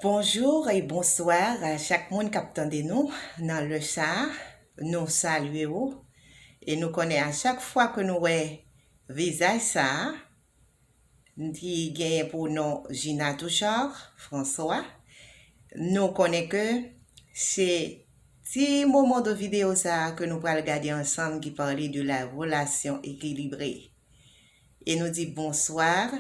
Bonjour et bonsoir a chak moun kap tande nou nan lè sa nou salye ou e nou konnen a chak fwa ke nou wè vizaj sa ki genyen pou non Gina Touchard François nou konnen ke se ti moman de video sa ke nou pral gade ansanm ki pale de la relasyon ekilibre e nou di bonsoir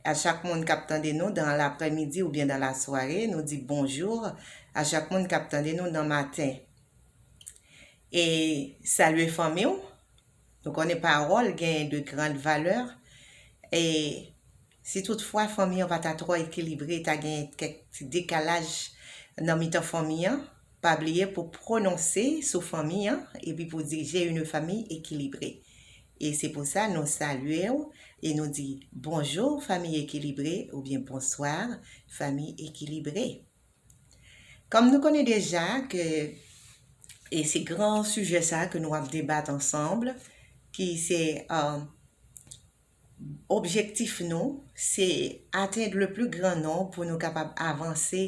A chak moun kap tande nou dan laprè midi ou byen dan la sware nou di bonjour a chak moun kap tande nou dan maten e salye fanmi w nou konnen parol genyen de grand valeur e si tout fwa fanmi an pa ta tro ekilibre ta genyen kèk ti dekalaj nan mitan fanmi an Pa bliye pou prononse sou fanmi an epi pou di J'ai une famille équilibrée. E se pou sa nou salye ou e nou di Bonjour famille équilibrée oubyen Bonsoir famille équilibrée. Kòm nou konnen deja ke e se gran sijè sa ke nou ap debat ansanm ki se Objektif nou, se atend le pli gran non pou nou kapab avanse,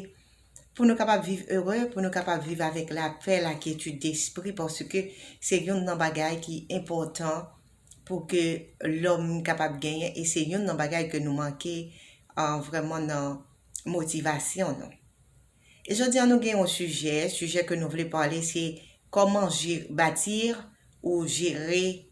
pou nou kapab viv ere, pou nou kapab viv avèk lapè, lakyetid despri, paske se youn nan bagay ki enpòtan pou ke lòm kapab genyen, e se youn nan bagay ke nou manke vrèman nan motivasyon nou. E jodi a nou gen yon sijè, sijè ke nou vle pale se, Comment bâtir ou gérer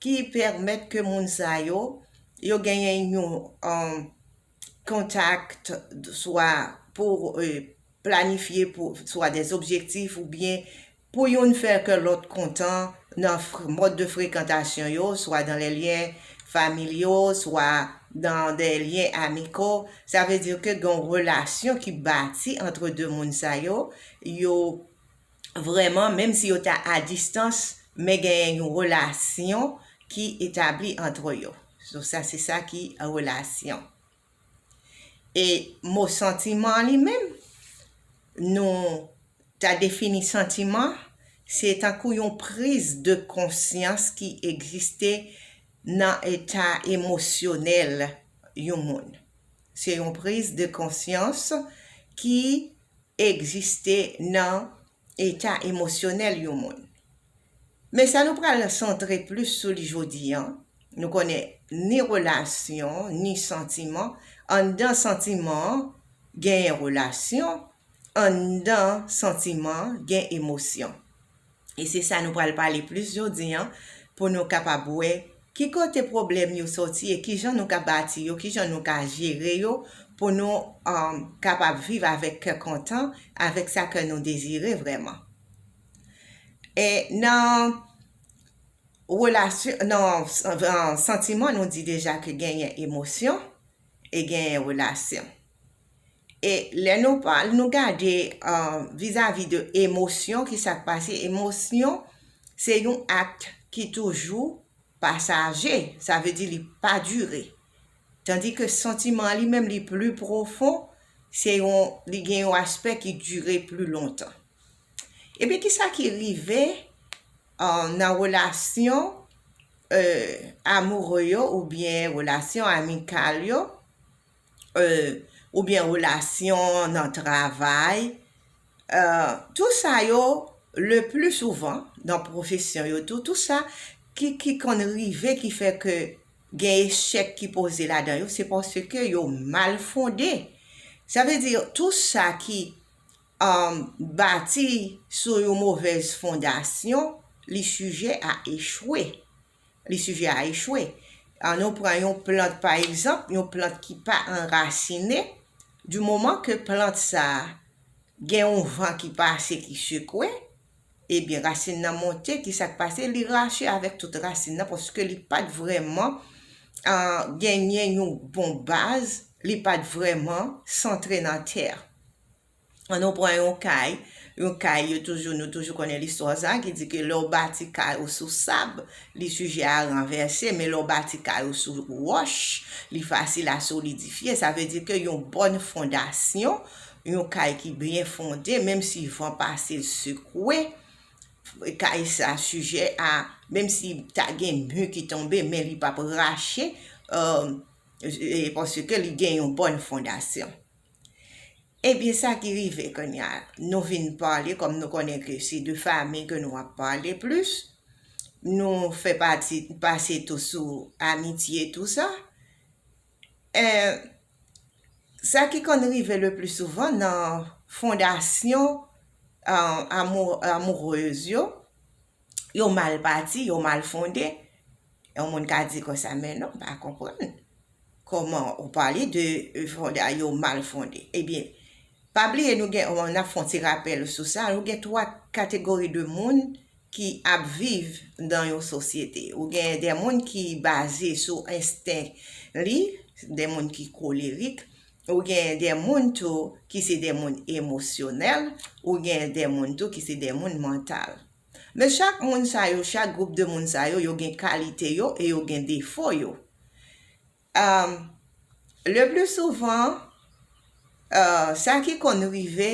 ki pèmèt ke moun sa yo, yo genyen yon contact swa pou planifye swa des objectifs ou byen pou youn fè kè lòt kontan nan mòd de frekantasyon yo, swa dans les liens familiaux, swa dans des liens amicaux, sa vle dire ke gen yon relasyon ki bati antre 2 moun sa yo, yo. vrèman menm si yo ta a distans men genyen yon relasyon ki etabli antre yo so sa se sa ki relasyon e mo santiman an li menm nou ta defini santiman se tankou yon priz de konsyans ki egziste nan eta emosyonèl yon moun se yon priz de konsyans ki egziste nan eta emosyonèl yon moun. Men sa nou pral santre plis sou li jodi a, nou konnen ni relasyon, ni santiman, anndan santiman an genyen relasyon, anndan santiman an gen emosyon. E se sa nou pral pale plis jodi an pou nou kapab wè ki kote pwoblèm yo sòti e kijan nou ka bati yo, kijan nou ka jere yo pou nou kapab viv avèk kè kontan, avèk sa kè nou dezire vrèman. E nan relasyon, nan santiman nou di deja ke genyen emosyon e genyen relasyon. E lè nou pa, nou gade vizavi de emosyon ki sak pase, emosyon se yon act ki toujou pasaje, sa vle di li pa dire. Tandi ke santiman li menm li pli pwofon, se yon, li gen yon aspè ki dire pli lontan. E pi ki sa ki rive nan relasyon amoure yo oubyen relasyon amikal yo? oubyen relasyon nan travay, tout sa yo le pli souvan nan pwofesyon yo tou, tout sa ki konn rive ki fè ke gen echèk ki poze ladan yo, se paske yo mal fonde. Sa vle di tout sa ki bati sou yon movèz fondasyon, li sijè a echwe. Li sijè a echwe. An nou pran yon plant pa egzanp, yon plant ki pa anrasine, di moman ke plant sa a gen yon van ki pase ki sekwe, ebyen rasin nan monte, ki sa k pase, li rache avèk tout rasin nan paske li pa t vrèman genyen yon bon baz, li pa t vrèman santre nan tè a. An nou pran yon kay, yon kay yo toujou nou toujou konnen listwa sa ki di ke lè w bati kay ou sou sab, li sijè a ranvèse, men lè w bati kay ou sou wòch, li fasil a solidifye. Sa vle di ke yon bòn fondasyon, yon kay ki byen fonde, menm si van pase l sekwe, kay sa sijè a, menm si ta gen mi ki tonbe, men li p ap rache, paske li gen yon bòn fondasyon. Ebyen sa ki rive kounya nou vin pale kòm nou konnen ke se de fami ke nou ap pale plis, nou fè pati pase tou sou amitye tou sa, eh sa ki konn rive le pli souvan nan fondasyon amourez yo, yo mal bati, yo mal fonde, yon moun ka di konsa men non m pa konprann kòman ou pale de fonde a yo mal fonde. Ebyen, pa bliye nou gen, n ap fè yon ti rapèl sou sa, nou gen 3 kategori de moun ki ap viv nan yon sosyete. Ou gen de moun ki baze sou ensten li, de moun ki kolerik, Ou gen de moun tou ki se de moun emosyonèl, ou gen de moun tou ki se de moun mantal. Men chak moun sa yo, chak gwoup de moun sa yo, yo gen kalite yo e yo gen defo yo. Le pli souvan, sa ki konn rive,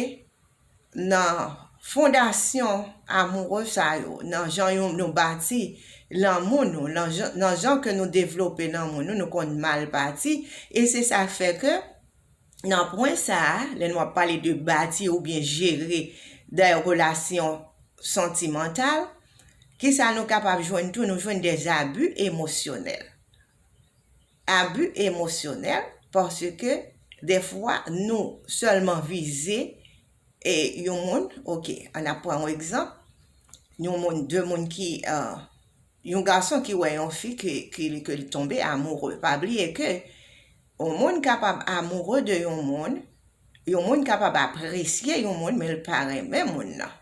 nan fondasyon amoureux sa yo, nan jan yon nou bati lanmou nou, nan jan ke nou devlope lanmou nou, nou konn mal bati, e se sa k fè ke nan pwen sa a, lè nou ap pale de bati oubyen jere dè relasyon santimantal, kisa nou kapab jwenn tou, nou jwenn dè zabi emosyonèl. Abi emosyonèl, paske defwa nou sèlman vize e yon moun, ok an ap pran yon egzanp, yon moun 2 moun ki yon gason ki wè yon fi ke li tonbe amoure, pa bliye ke yon moun kapab amoure de yon moun, yon moun kapab apresye yon moun men l pa renmen moun nan,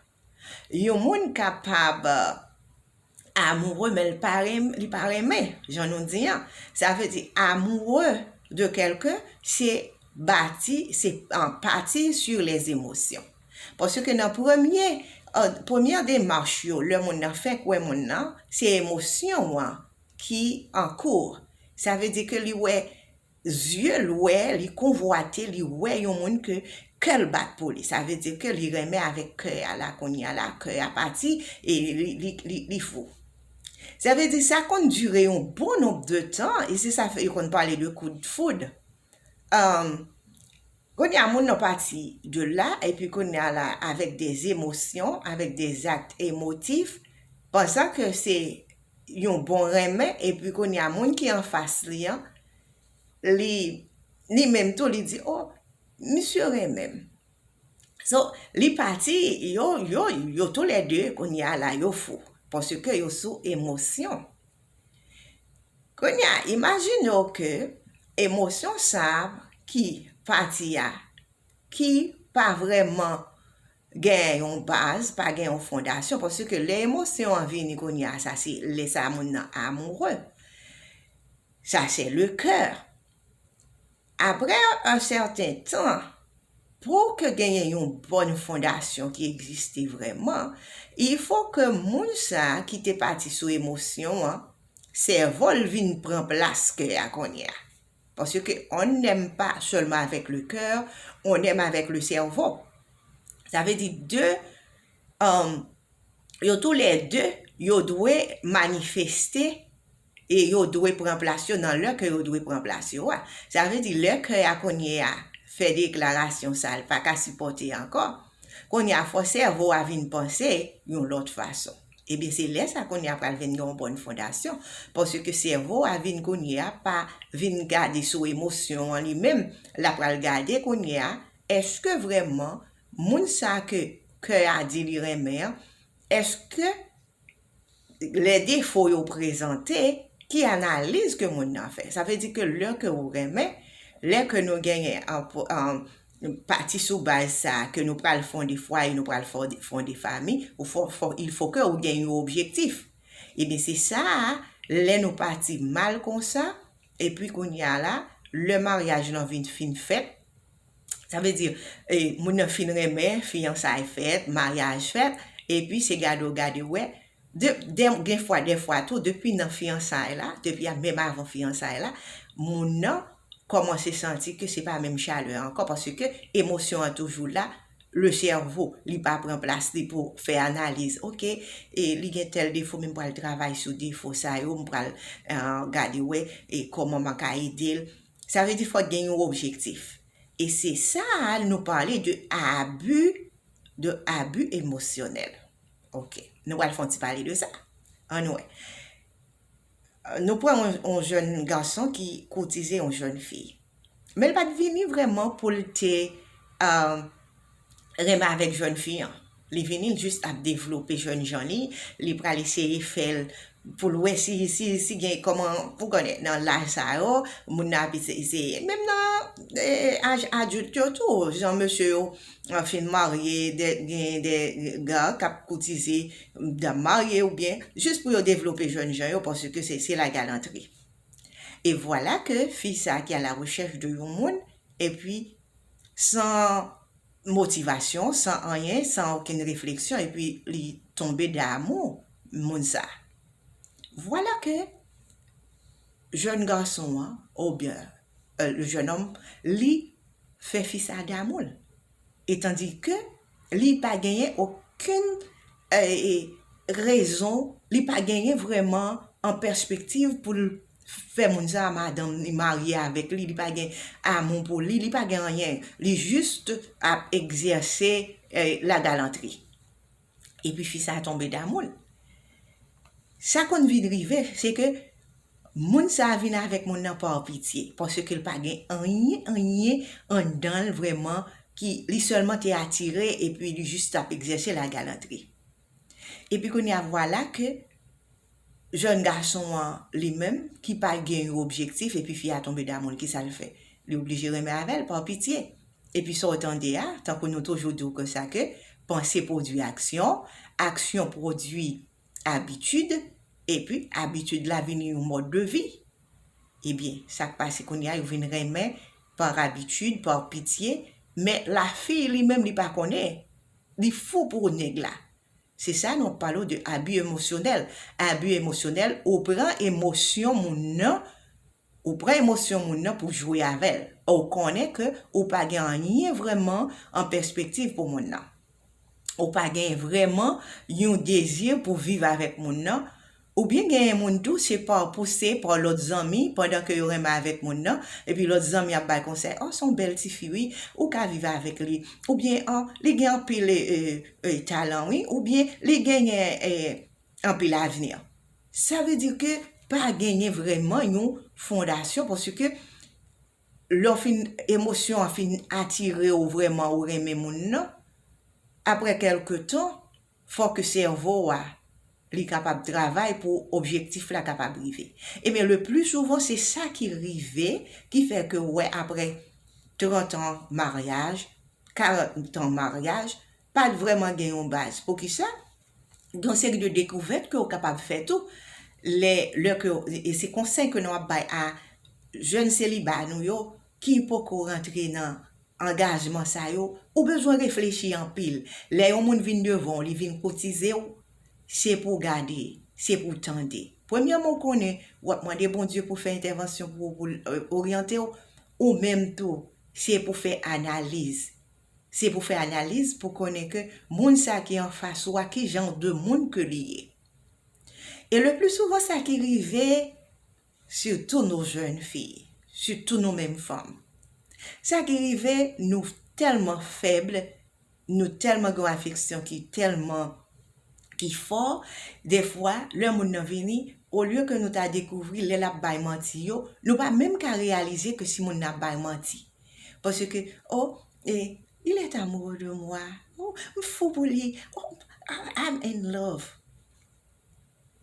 yon moun kapab. amoureux men li pa renmen, li pa renmen jan nou di an. Sa vle di amoureux de quelqu'un se bati, se pati sur les émotions. Paske nan premye, premyè demach yo lè moun nan fèk wè moun nan, se emosyon an ki an cours. Sa vle di ke li wè Zye l wè, li konvwate, li wè yon moun ke kè l bat pou li. Sa vle di ke li renmen avèk kè a. La kounye a la, kè a pati e li fou. Sa vle di sa konn dire yon bon nonb de tan e se sa fè yo konn pale de coup de foudre. Kounye a moun nan pati de la epi kounye a la avèk de emosyon, avèk de zakt emotif, pansan ke se yon bon renmen epi kounye a moun ki anfas li an li li menm tou li di oh misye renmen m so li pati yo yo yo tou lè 2 kounye a la yo fou paske yo sou emosyon kounye a imajine yo ke emosyon sa ki pati a ki pa vreman gen yon baz, pa gen yon fondasyon, paske lè emosyon an vini kounye a, sa se lè sa a moun nan amoure, sa se le coeur. Aprè un certain temps, pou ke genyen yon bòn fondasyon ki egziste vrèman, il faut ke moun sa a ki te pati sou emosyon an, sèvo l vin pran plas coeur a kounye a. Parce que on n'aime pas seulement avec le cœur, on aime avec le cerveau. Sa vle di 2, yo tou lè 2, yo dwe manifeste e yo dwe pran plas yo nan lè ke yo dwe pran plas yo a. Sa vle di lè kè a kounye a fè deklarasyon sa l pa ka sipòte ankò, kounye a fò sèvo a vin panse yon lòt fason. Ebyen se lè sa kounye a pral vin gen yon bòn fondasyon, paske sèvo a vin kounye a pa vin gade sou emosyon an li menm, la pral gade kounye a èske vrèman moun sa ke kè a di li renmen an, èske lè defo yo prezante, ki analiz ke moun nan fè. Sa vle di ke lè ke ou renmen, lè ke nou genyen pati sou baz sa a ke nou pral fonde fwaye, nou pral fonde fami, il fo ke ou gen yon objektif. Ebyen se sa a, lè nou pati mal konsa, epi kounye a la, lè maryaj lan vin fin fèt, sa vle di, moun nan fin renmen, fiyansay fèt, maryaj fèt, epi se gade w gade w wè, Gen fwa dèfwa tou depi nan fiyansay la, depi menm avan fiyansay la, moun nan kòmanse santi ke se pa menm chalè ankò paske emosyon an toujou la, le sèvo li pa pran plas li pou fè analiz, ok li gen tèl defo men m pral travay sou defo sa yo, m pral gade wè kòman mwen ka ede l. Sa vle di fòk gen yon objektif. E se sa nou pale de abi, de abi emosyonèl. Ok. Nou pral fè yon ti pale de sa. An nou wè. Nou pran yon jèn gason ki koutize yon jèn fi. Men l pa t vini vrèman pou l te euh, renmen avèk jèn fi an. Li vini l jis ap devlope jèn jan li, li pral eseye fè l pou l wè si si si gen kòman ou konnen nan laj sa yo moun nan ap eseye menm nan aj adilt yo tou jan mesye yo fin marye de gen de gar k ap koutize dam marye oubyen jis pou yo devlope jèn jan yo paske se se lagalantri e vwala ke fi sa ki a la rechèch de yon moun epi san motivasyon, san anyen, san okenn refleksyon epi li tonbe damou moun sa. Vwala ke jèn gason an oubyen le jeune homme li fè fi sa damou l. Etandike li pa genyen okenn rezon, li pa genyen vreman an pèspektiv pou l fè moun sa a madanm li marye avèk li, li pa gen amou pou li, li pa gen anyen, li just ap egzèse la galantri. Epi fi sa a tonbe damou l. Sa konn vin rive, se ke moun sa a vin avèk moun nan par pitye, paske l pa gen anyen, anyen anndan l vrèman ki, li sèlman te atire epi li just ap egzèse la galantri. Epi kounye a vwala ke jèn gason an li menm ki pa gen yon objektif epi fi a tonbe damou l ki sa l fè? Li oblije renmen avè l pa pitye. Epi sa w tande a, tankou nou toujou di w ke sa ke panse pwodui aksyon, aksyon pwodui abitid, epi abitid la vini yon mòd de vi. Ebyen, sa k pase kounye a yo vin renmen par abitid, par pitye, men lafi li menm li pa konnen Li fou pou ou nèg la. Se sa nou palo de abu emosyonèl, abu emosyonèl ou pran emosyon moun nan ou pran emosyon moun nan pou jwe avèl or ou konnen ke ou pa gen anyen vrèman an pèspektiv pou moun nan ou pa gen vrèman yon dezi pou viv avèk moun nan Ou byen genyen moun tou se pa w pouse pa w lòt zanmi pandan ke yo renmen avèk moun nan epi lòt zanmi ap bay konsèy oh son bèl tifi wi ou ka viv avèk li ou byen oh li gen anpil eh talan wi ou byen li genyen eh anpil avni sa vle di ke pa genyen vrèman yon fondasyon paske lè w fin emosyon an fin atire w vrèman ou renmen moun nan aprè kèlke tan Fò ke sèvo a li kapab travay pou objektif la kapab rive. Ebyen le pli souvan se sa ki rive ki fè ke ou wè aprè 30 an maryaj, 40 an maryaj, pa t vrèman gen yon baz. Poukisa? Gen yon seri de dekouvèt ke ou kapab fè tou lè, lè ke, e se konsèy ke nou ap bay a jèn seliba nou yo ki poko rantre nan. angajman sa yo, ou bezwen reflechi anpil. Lè yon moun vin devan w, li vin kotize w, se pou w gade, se pou w tande. Premyèman ou konnen, w ap mande Bondye pou l fè entèvansyon pou ou, pou l oryante w, ou menm tou, se pou w fè analiz. Se pou w fè analiz pou w konnen ke moun sa ki anfas ou a, ki jan de moun ke li ye. E le pli souvan sa ki rive, sitou nou jèn fi, sitou nou menm fanm. Sa ki rive nou tèlman fèb, nou tèlman gen yon afeksyon ki tèlman ki fò, defwa lè moun nan vini, olye ke nou ta dekouvri lè l ap bay manti yo, nou pa menm ka reyalize ke si moun nan ap bay manti. Paske, o, e, il est amoureux de moi, o, m fou pou li, o, I'm in love.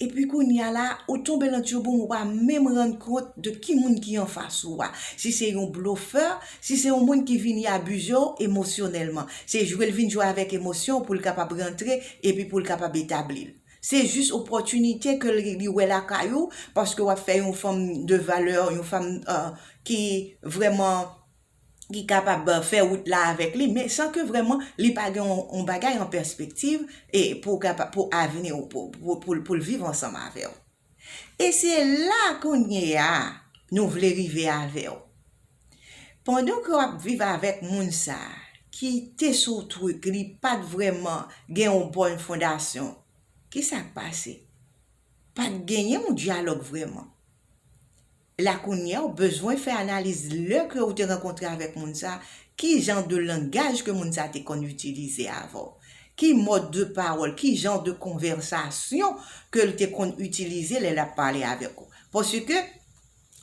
Epi kounya la ou tonbe lan tyoboum ou pa menm rann kont de ki moun ki anfas ou a, si se yon blofè, si se yon moun ki vini abize w emosyonèlman. Se jwe l vin jwe avèk emosyon w pou l kapab rantre epi pou l kapab etabli l. Se jis opòtinite ke li wè lakay ou paske w ap fè yon fanm de valè, yon fanm ki vrèman ki kapab fè wout la avèk li men san ke vrèman li pa gen yon bagay an pèspektiv e pou kapa pou avni ou pou pou l viv ansanm avè w. E se la kounye a nou vle rive avè w. Pandan ke w ap viv avèk moun sa ki te sou truk li pa t vrèman gen yon bòn fondasyon ki sa k pase? Pa t genyen yon dyalòg vrèman. La kounyea ou bezwen fè analiz lè ke ou te rankontre avèk moun sa, ki jan de langaj ke moun sa te konn itilize avè w? Ki mòd de pawòl, ki jan de konvèsasyon ke l te konn itilize lè l ap pale avèk ou? Paske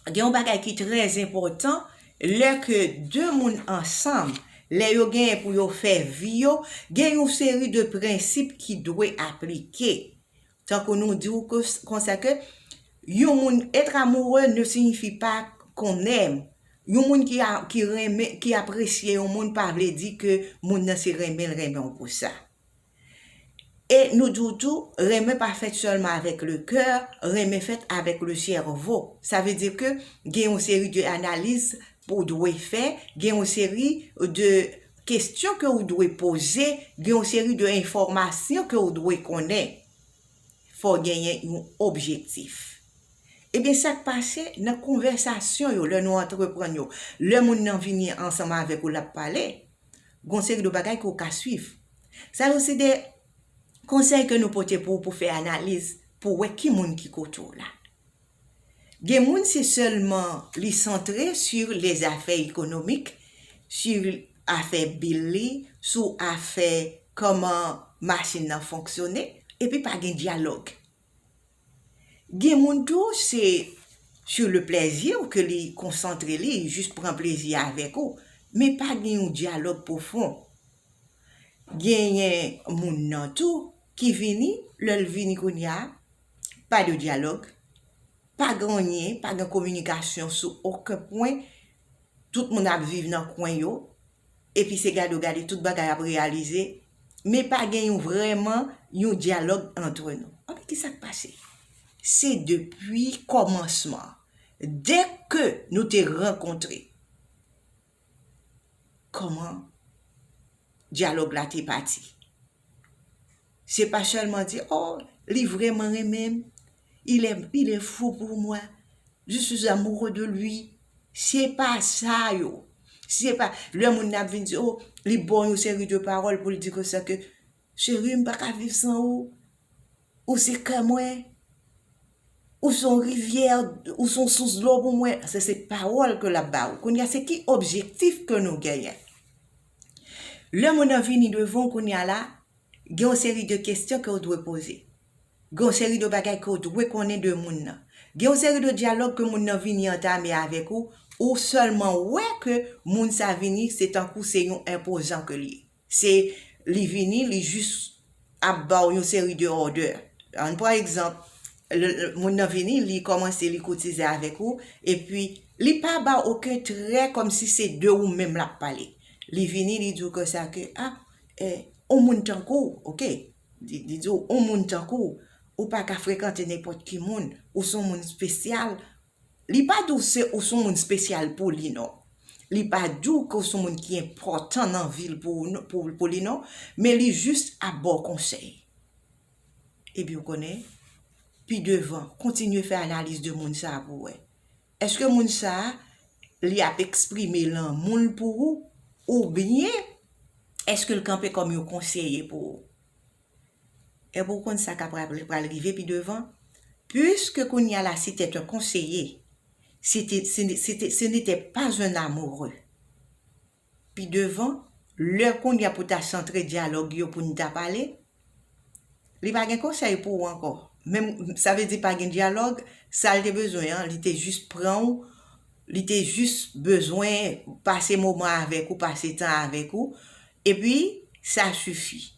gen yon bagay ki trè enpòtan lè ke de moun ansanm, lè yo genyen pou yo fè vi yo, gen yon seri de prensip ki dwe aplike Tankou nou di ou konsa ke yon moun être amoureux ne signifie pas qu'on aime. Yon moun ki renmen, ki apresye yon moun pa vle di ke moun nan se renmen l renmen w pou sa. E nou di w tou, renmen pa fèt sèlman avèk le coeur, renmen fèt avèk le cerveau. Sa vle di ke gen yon seri de analiz pou w dwe fè, gen yon seri de. Kestyon ke ou dwe poze, gen yon seri de enfòmasyon ke ou dwe konnen. Fò w genyen yon objektif. Ebyen sa k pase nan konvèsasyon yo lè nou antreprann yo, lè moun nan vini ansanm avèk ou l ap pale, gen yon seri de bagay ke ou ka swiv. Sa yo se de konsèy ke nou pote pou ou pou fè analiz, pou wè ki moun ki kote w la. Gen moun se selman li centre sur les affaires économiques, sur afè bill li, sou afè koman machine nan fonksyone epi pa gen dialogue. Gen moun tou se sur le plaisir ke li konsantre li jis pran plezi avèk ou men pa gen yon dialogue profond. Genyen moun nan tou ki vini lèl vini kounya pa de dyalòg, pa gen anyen, pa gen kominikasyon sou oken pwen, tout moun ap viv nan kwen yo, epi se gade w gade tout bagay ap reyalize, men pa gen yon vrèman yon dyalòg antre nou. Anben ki sa k pase? Se depi kòmansman, dè ke nou te rankontre, kòman dyalòg la te pati. Se pa sèlman di, o, li vrèman renmen m, il è, il è fou pour moi, je suis amoureux de lui, se pa sa yo. Se pa, lè moun nan ap vin di, o, li ba w yon seri de pawòl pou l di konsa ke, Cheri m pa ka viv san ou Ou se kè mwen Ou son rivyè Ou son sous dlo pou mwen Sa se pawòl ke l ap ba ou Kounye a se ki objektif ke nou genyen Lè moun nan vini devan ou kounye a la Gen yon seri de kesyon ke ou dwe poze Gen yon seri de bagay ke ou dwe konnen de moun nan Gen yon seri de dyalòg ke moun nan vini antame avèk ou Ou sèlman wè ke moun sa vini se tankou se yon enpozan ke l ye Se li vini, li jis ap ba w yon seri de òdè. An pran egzanp, moun nan vini, li kòmanse li kotize avèk ou, epi li pa ba w oken trè kòm si se de ou menm l ap pale. Li vini, li di w konsa ke, a, e, on moun tankou w, ok, li di w, on moun tankou w, ou pa ka frekante nenpòt ki moun, ou s on moun spesyal, Li pa di w se ou son moun spesyal pou li non. Li pa di w ke w son moun ki enpòtan nan vi l pou li non. Men li jis ap ba w konsèy. Epi ou konnen, pi devan, kontinye fè analiz de moun sa a pou w wè. Eske moun sa a, li ap eksprime lanmou l pou ou, oubyen eske l kanpe kòm yon konseye pou ou? Èp ou konn sa ka pral rive pi devan? Puiske kounya la si t'es un conseiller, si ti, si ni, si te, si ni te pas un amoureux, pi devan, lè kounya pou ta santre dyalòg yo pou n ta pale, li pa gen konsèy pou ou ankò. Menm, sa vle di pa gen dyalòg, sa l te bezwen an, li te jis pran ou, li te jis bezwen pase moman avèk ou, pase tan avèk ou, epi sa sifi.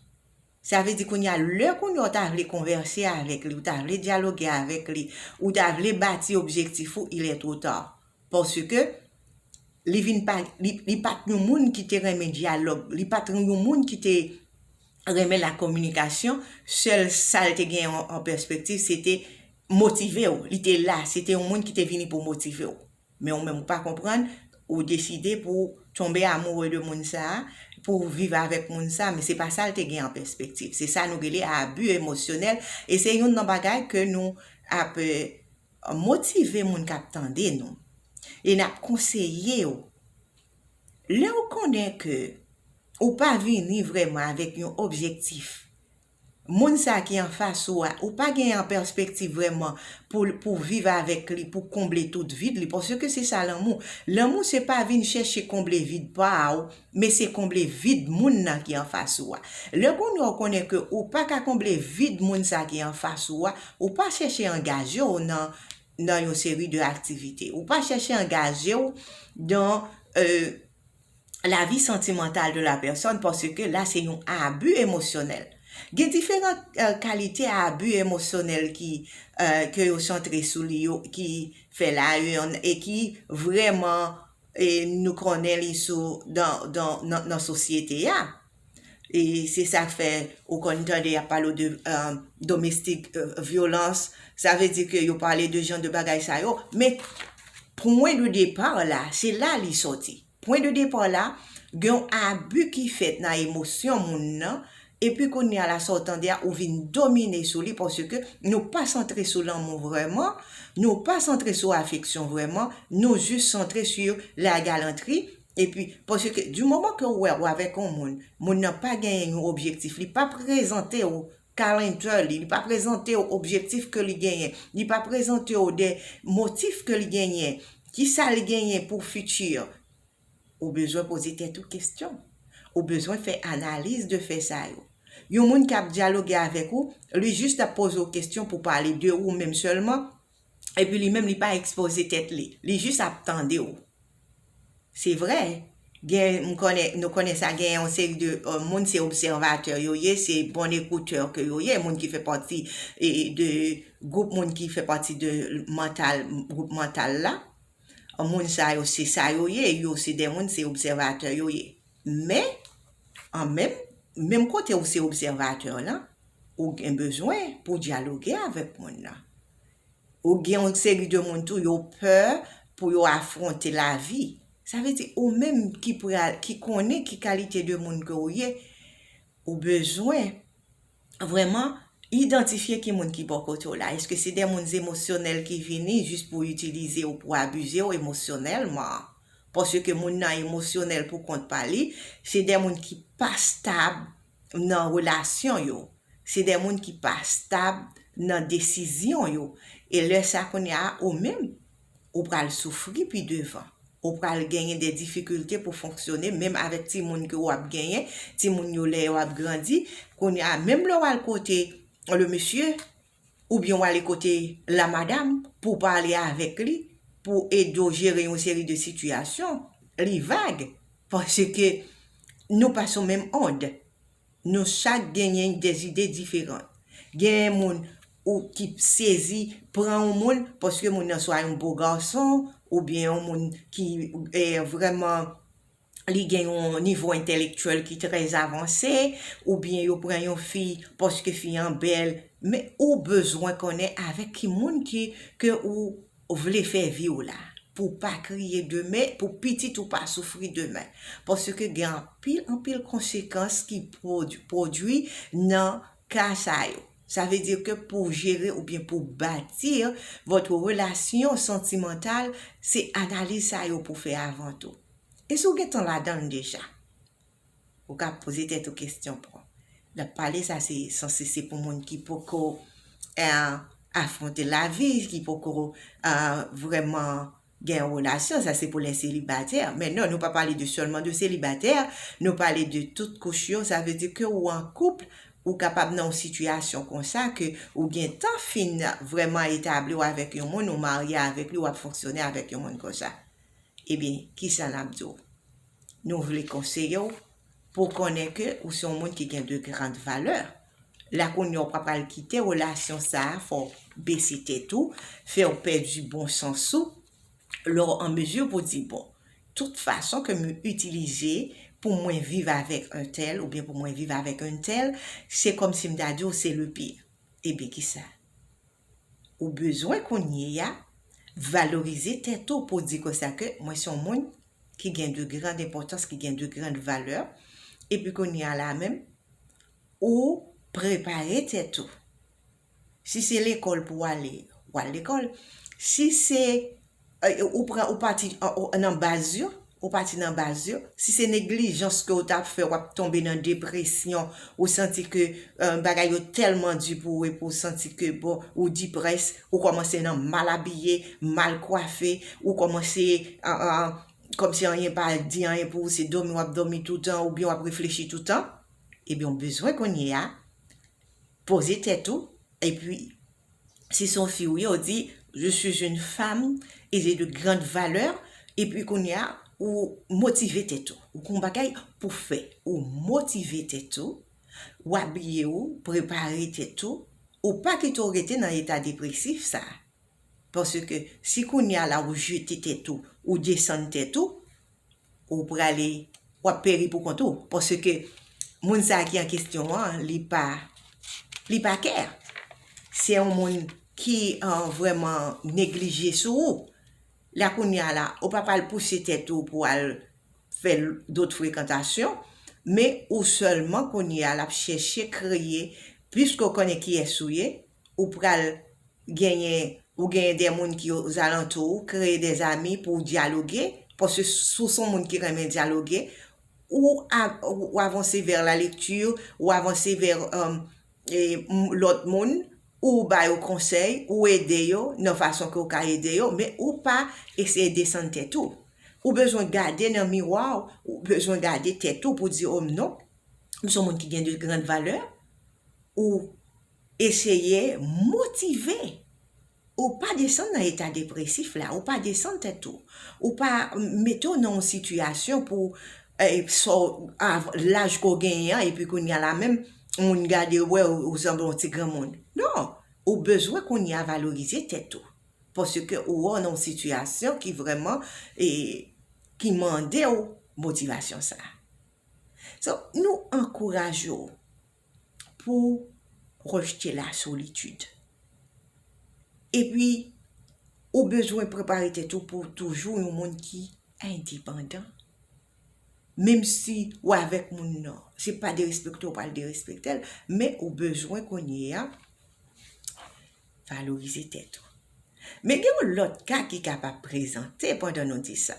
Sa vle di kounye a, lè kounye a ou ta vle konvèse avèk li, ou ta vle dyaloge avèk li, ou ta vle bati objektif ou, il est trop tard. Paske, li vin pa, li pa t yon moun ki te renmen dyalòg, li pa t yon moun ki te renmen la kominikasyon, sèl sa l te gen an pèspektiv se te motive w, li te la, se te yon moun ki te vini pou motive w. Men ou menm ou pa konprann, ou deside pou w tonbe amoure de moun sa, pou w viv avèk moun sa, men se pa sa l te gen an pèspektiv. Se sa nou rele abi emosyonèl e se youn nan bagay ke nou ap motive moun k ap tande nou e n ap konseye yo. Lè ou konnen ke ou pa vini vrèman avèk yon objektif Moun sa ki anfas ou a, ou pa gen an pèspektiv vrèman pou pou viv avèk li, pou konble tout vid li, paske se sa lanmou. Lanmou se pa vin chèche konble vid pa ou, men se konble vid moun nan ki anfas ou a. Lè kounya ou konnen ke ou pa ka konble vid moun sa ki anfas ou a, ou pa chèche angaje w nan nan yon seri de aktivite. Ou pa chèche angaje w dan. la vi santimantal de la pèsòn paske la se yon abu emosyonèl. Gen diferan kalite abu emosyonèl ki ke yo santre sou li yo ki fè la yon e ki vrèman nou konnen li sou dan dan nan sosyete a. E se sa k fè ou konn tande y ap pale w de domestik vyolans, sa vle di ke yo pale de jan de bagay sa yo, men pwen de depa la, se la li sòti. Pwen de depa la, gen yon abi ki fèt nan emosyon moun nan, epi kounye a la sa w tande a ou vin domine sou li paske nou pa santre sou lanmou vrèman, nou pa santre sou afeksyon vrèman, nou jis santre sou la galantri, Epi, paske di moman ke ou wè ou avèk yon moun, moun nan pa genyen yon objektif, li pa prezante ou calendar li, li pa prezante ou objektif ke li genyen, li pa prezante ou de motif ke li genyen, kisa li genyen pou futur, ou bezwen poze tèt ou kestyon. Ou bezwen fè analiz de fè sa yo. Yon moun kap dyaloge avèk ou, li jis ap poze ou kestyon pou pale de ou menm sèlman, epi li menm li pa ekspoze tèt li, li jis ap tande w. Se vre, gen, m konnen, nou konnen sa, gen yon seri de moun se obsèvatè yo ye, se bon ekoutè ke yo ye, moun ki fè pati de gwoup moun ki fè pati de mantal, gwoup mantal la, moun sa yo se sa yo ye, yo se de moun se obsèvatè yo ye. Men, an menm, menm kote ou se obsèvatè lan, ou gen bezwen pou w dyaloge avèk moun nan. Ou gen yon seri de moun tou, yo pè pou yo afwonte lavi. Sa vle di, ou menm ki pral, ki konnen ki kalite de moun ke ou ye, ou bezwen. vrèman idantifye ki moun ki bò kote w la. Eske se de moun emosyonèl ki vini jis pou itilize w, pou abize w emosyonèlman? Paske moun nan emosyonèl pou kont pa li, se de moun ki pa stab nan relasyon yo, se de moun ki pa stab nan desizyon yo. E lè sa kounye a ou menm, Ou pral soufri pi devan. Ou pral genyen de difikilte pou fonksyone menm avèk timoun ke ou ap genyen, timoun yo lè yo ap grandi, kounye a menm lè w al kote le mesye oubyen w ale kote la madam pou w pale avèk li, pou ede w jere yon seri de sitiyasyon, li vag paske nou pa sou menm ond. Nou chak genyen de zide diferan. Genyen moun ou ki sezi pran yon moun paske moun nan swa yon bo gason ou byen yon moun ki vrèman li gen yon nivo entèlektyèl ki trè avanse ou byen yo pran yon fi paske fi an bèl men ou bezwen konnen avèk ki moun ke ou ou vle fè vi ou la pou w pa kriye demen, pou pitit ou pa soufri demen. Paske gen anpil anpil konsekans ki pwodwi nan ka sa yo. Sa vle di ke pou w jere oubyen pou w bati votre relation sentimentale, se analiz sa yo pou w fè avan tou. E si w gen tan ladan l deja? Ou ka poze tèt ou kestyon pou. Nan pale sa se sanse se pou moun ki poko afronte lavi, ki poko vreman gen yon relasyon, sa se pou lè selibatè. Men non, nou pa pale de sèlman de selibatè, nou pale de tout kouch yo, sa vle di ke ou an kouple, ou kapab nan yon sitiyasyon konsa ke ou gen tan fin vreman etabli ou avèk yon moun, ou marye avèk li, ou ap fonksyone avèk yon moun konsa. Ebyen, kisa n ap di w? Nou vle konseye w pou w konnen ke ou se yon moun ki gen de grand valè. La kounye a w pa pral kite relasyon sa a fè w bese tèt ou, fè w pèdi bon sans ou, lè w an mezi pou w di bon, tout fason ke m itilize pou mwen viv avèk entèl oubyen pou mwen viv avèk untèl, se kòmsi m ta di w se le pire. Ebyen kisa? ou bezwen kounye ya, valorize tèt ou pou di konsa ke mwen son moun ki gen de grand enpòtans, ki gen de grand valè, epi kounye ya la menm, ou prepare tèt ou. Si se lekòl pou ale, wal lekòl, si se. Ou pran ou pati nan baz yo, ou pati nan baz yo, si se neglijans ke ou ta fè wap tonbe nan depresyon, ou santi ke bagay yo tèlman di pou ou epi ou santi ke bon ou diprès, ou kòmanse nan mal abiye, mal kwafe, ou kòmanse kòmsi anyen pa di anyen pou ou se dòmi wap dòmi toutan oubyen wap reflechi toutan, ebyen ou bezwen kounye a Poze tèt ou epi si son fi ou ye ou di je suis une femme et j'ai de grandes valeurs epi kounye a ou motive tèt ou ou gon bagay pou fè ou motive tèt ou ou abiye ou prepare tèt ou ou pa kite ou rete nan eta depresif sa. Paske si kounye a la ou jete tèt ou, ou desann tèt ou, ou prale, w ap peri pou kont ou. Paske moun sa a ki an kesyon an, li pa, li pa kè. Se yon moun ki vrèman neglije sou ou. La kounye a la, ou pa pral pouse tèt ou pou al fè dot frekantasyon, men ou sèlman kounye a l ap chèche kreye, piske ou konnen kiyès ou ye, ou pral genyen ou genyen de moun ki ozalantou ou, kreye de zami pou w dyaloge, paske si w se yon moun ki renmen dyaloge, ou avanse vè la lekti, ou avanse vè lòt moun, ou ba yo konsèy, ou ede yo nan fason ke w ka ede yo, men ou pa eseye desann tèt ou. Ou bezwen gade nan miwa w, ou bezwen gade tèt ou pou w di o m non, m se yon moun ki gen de grand valè, ou Eseye motive ou pa desann nan eta depresif la, ou pa desann tèt ou, ou pa mete w nan yon sitiyasyon pou sa w, laj ke w genyen an epi kounye a la menm moun gade w wè ou sanble yon ti granmoun. Non, ou bezwen kounye a valorize tèt ou paske ou wè w nan yon sitiyasyon ki vrèman ki mande w motivasyon sa a. So, nou ankouraje w. pou rejte la solitid. Epi, ou bezwen prepare tèt ou pou toujou yon moun ki endepandan. Menm si ou avèk moun nan, se pa derespekte ou pral derespekte l, men ou bezwen kounye a valorize tèt ou. Men gen yon lòt ka ki kapab prezante pandan nou di sa.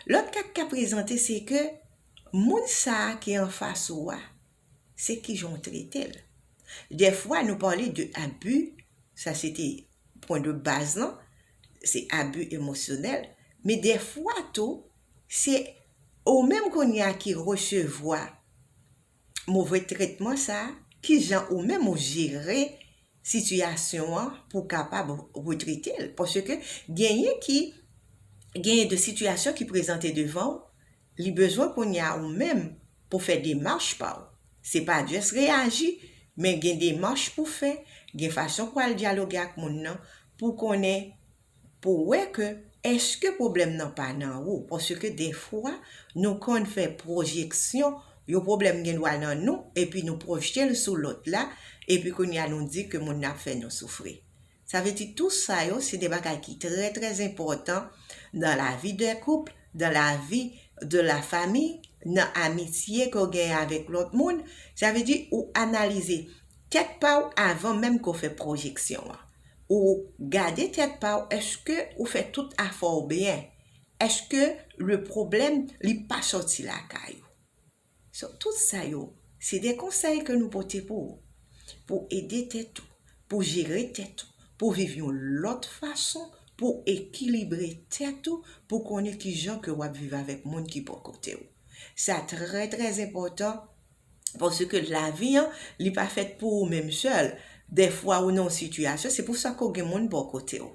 Lòt ka ki ka prezante se ke Moun sa a ki anfas ou a, se kijan ou trete l. Dèfwa nou pale de abi, sa se te pwen de baz lan, se abi emosyonèl, men dèfwa tou se ou menm kounye a ki resevwa move tretman sa, kijan ou menm ou jere sitiyasyon an pou w kapab retrete l? Paske genyen ki, genyen de sitiyasyon ki prezante devan w, li bezwen kounye a ou menm pou fè demach pa w. Se pa just reyaji, men gen demach pou fè, gen fason pou al dyaloge ak moun nan pou konnen pou wè ke eske pwoblèm nan pa nan ou, paske defwa nou konn fè pwojeksyon, yon pwoblèm gen dwa nan nou epi nou pwojte l sou lòt la, epi kounye a nou di ke moun nan ap fè nou soufri. Sa vle di tou sa yo se de bagay ki trè trè enpòtan dan la vi dè koup, dan la vi de la fami, nan amitye ke w genyen avèk lòt moun, sa vle di ou analize tèt pa w avan menm ke w fè pwojeksyon an. ou gade tèt pa w eske ou fè tout afè w byen, eske le pwoblèm li pa sòti lakay ou. So tout sa yo se de konsèy ke nou pote pou ou, pou w ede tèt ou, pou w jere tèt ou, pou w viv yon lòt fason, pou w ekilibre tèt ou, pou w konnen kijan ke w ap viv avèk moun ki bò kote w. Sa trè trè enpòtan. Paske lavi an, li pa fèt pou ou menm sèl. Dèfwa ou nan yon sitiyasyon, se pou sa ke w gen moun bò kote w.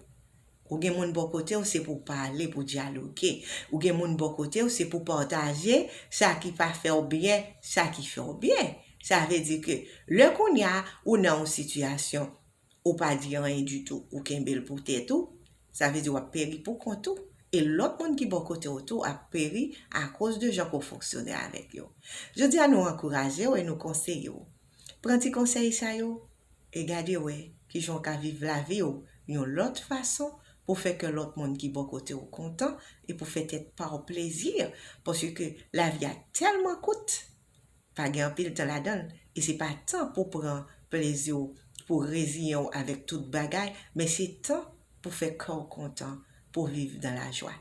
Ou gen moun bò kote w, se pou w pale, pou w dyaloge. Ou gen moun bò kote w, se pou w pataje sa ki pa fè w byen, sa ki fè w byen. Sa vle di ke lè kounye a, ou nan yon sitiyasyon, ou pa di anyen ditou ou kenbe l pou tèt ou, sa vle di w ap peri pou kont ou e lòt moun ki bò kote w tou ap peri akoz de jan ke w fonksyone avèk yo. Jodi a nou ankouraje w e nou konseye w. Pran ti konsèy sa yo e gade wè kijan w ka viv lavi w yon lòt fason pou fè kè lòt moun ki bò kote w kontan e pou fè tèt pa w plezi paske lavi a tèlman kout. pa gen anpil tan ladan l e se pa tan pou pran plezi w, pou w reziyen w avèk tout bagay men se tan pou fè kè w kontan, pou w viv nan lajwa.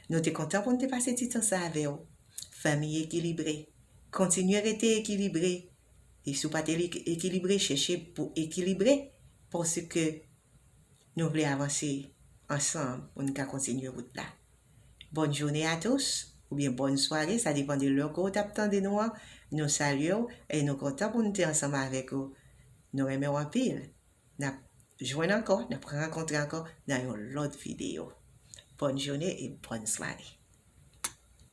Nou te kontan pou n te pase ti tan sa avè w. Fanmi Ekilibre, kontinye rete ekilibre e si w pa te ekilibre chèche pou ekilibre paske Nou vle avanse ansanm pou n ka kontinye wout la. Bonne journée à tous oubyen bòn sware sa depan de lè ke w tap tande nou an, nou salye w e nou kontan pou nou te ansanm avèk ou, nou renmen w anpil, nap jwenn ankò, nap rankontre ankò nan yon lòt videyo. Bòn joune e bòn sware.